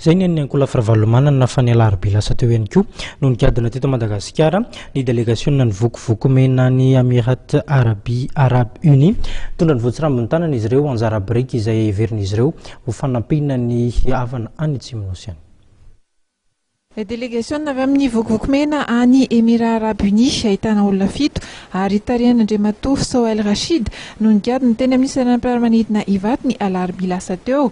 Izay ny an'ny ankolafy Ravalomanana fa ny alarobia lasa teo ihany koa no nikadona teto Madagasikara ny delegasionina ny vokovoko mena ny Amirat Arabi Arabe Uni. Nitondra ny voatsirambin'ny tanana izy ireo anjara biriky izay heverin'izy ireo ho fanampiana ny havana any Atsimonosy any. Delegasionina avy amin'ny vokovoko mena any Emirats Arabes Unis ahitana olona fito ary tarihan'Andriamatoa Sohail Rashid no nigadona teny amin'ny seranam-piaramanidina Ivato ny alarobia lasa teo.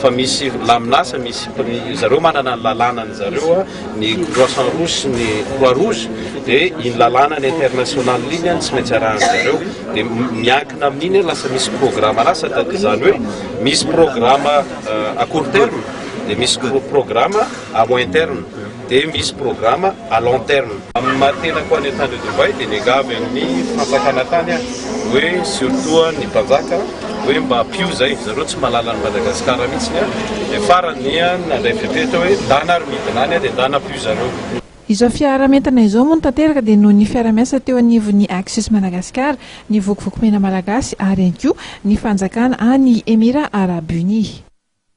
fa misy laminasa misy zareo manana ny lalanany zareo ny croissant rouge sy ny croix rouge dia iny lalanany international iny any tsy maintsy arahany zareo dia miankina amin'iny lasa misy programme lasa da izany hoe misy programme euh, à court terme dia misy programme à moyen terme dia misy programa à long terme. Amin'ny maha tenako any an-tany eto Dubaï dia niangavy amin'ny fanjakana tany aho hoe surtout ny mpanjaka hoe mba ampio izay, ry zareo tsy mahalala an'i Madagasikara mihitsy an! dia farany dia nandray fepetra hoe ndana ary midina any aho dia ndana ampio zareo. Izao fiarahamentana izao moa no tanteraka dia noho ny fiarahamiasa teo anivon'ny Axis Madagascar, ny Vokovoko Mena Malagasy ary ihany koa ny fanjakana any Emirats Arabes Unis.